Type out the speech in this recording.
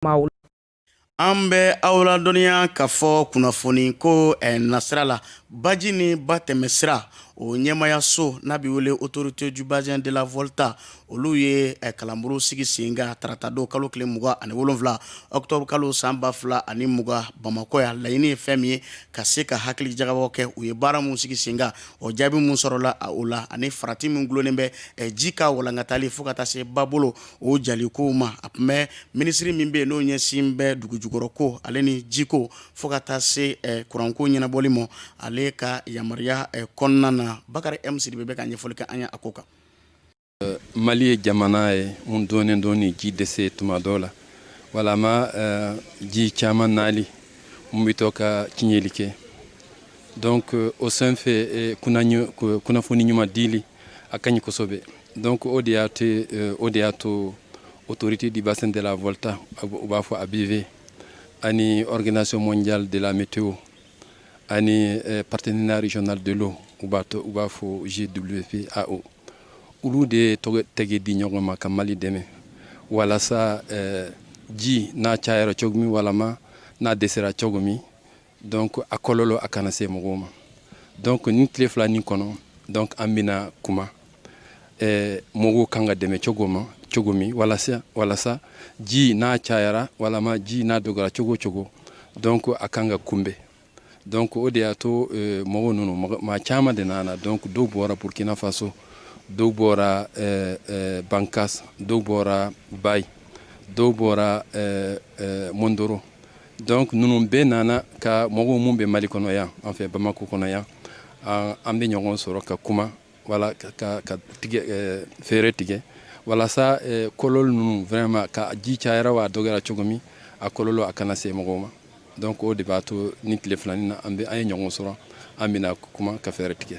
maaw an bɛ aw ladɔnniya k'a fɔ kunnafoni ko eh, nasira la baji ni ba tɛmɛ sira o ɲɛmaayaso n'a bɛ wele autorité du bassin de la volta olu ye eh, kalanbulon sigi sen kan tarata don kalo tile mugan ani wolonwula octobre kalo san ba fila ani mugan bamakɔ yan laɲini ye fɛn min ye ka se ka hakili jagabɔ kɛ u ye baara min sigi sen kan o jaabi min sɔrɔla o la ani farati min dulonnen bɛ eh, ji ka walankatali fo ka taa se babolo o jali ko ma a tun bɛ minisiri min bɛ yen n'o ɲɛsin bɛ dugu jukɔrɔ ko ale ni jiko fo ka taa se kuranko ɲɛnabɔli ma ale ka yamaruya kɔnɔna na bakari m sidibe bɛ ka ɲɛfɔli kɛ an ye a ko kan mali ye jamana ye min dɔnnen don ni ji dɛsɛ tuma dɔ la walima ji caman nali n bɛ to ka tiɲɛli kɛ donc o sen fɛ kunnafoni ɲuman dili a ka ɲi kosɛbɛ donc o de y'a te euh, o de y'a to autorité du bassin de la volta u b'a fɔ abv ani organisation mondiale de la météo ani euh, partenariat régional de l'eau u b'a to u b'a fɔ gwpao olu de ye tɛgɛ di ɲɔgɔn ma ka mali dɛmɛ walasa euh, ji n'a cayara cogo min walama n'a dɛsɛra cogo min donc a kɔlɔlɔ a kana se mɔgɔw ma donc nin tile fila nin kɔnɔ donc an bɛna kuma eh, mɔgɔw kan ka dɛmɛ cogo ma cogo min walasa walasa ji n'a cayara walama ji n'a dɔgɔra cogo cogo donc a kan ka kunbɛn donc o de y'a to eh, mɔgɔw ninnu maa caman de nana donc dɔw bɔra burkina faso dɔw bɔra eh, eh, bankas dɔw bɔra bay dɔw bɔra eh, eh, mondoro donc ninnu bɛɛ nana ka mɔgɔw minnu bɛ mali kɔnɔ yan an fɛ bamakɔ kɔnɔ yan an bɛ ɲɔgɔn sɔrɔ ka kuma wala ka fɛɛrɛ tigɛ walasa kɔlɔlɔ ninnu vraiment ka ji cayara wa a dɔgɔra cogo min a kɔlɔlɔ a kana se mɔgɔw ma donc o de b'a to nin tile fila nin na an ye ɲɔgɔn sɔrɔ an bɛna kuma ka fɛɛrɛ tigɛ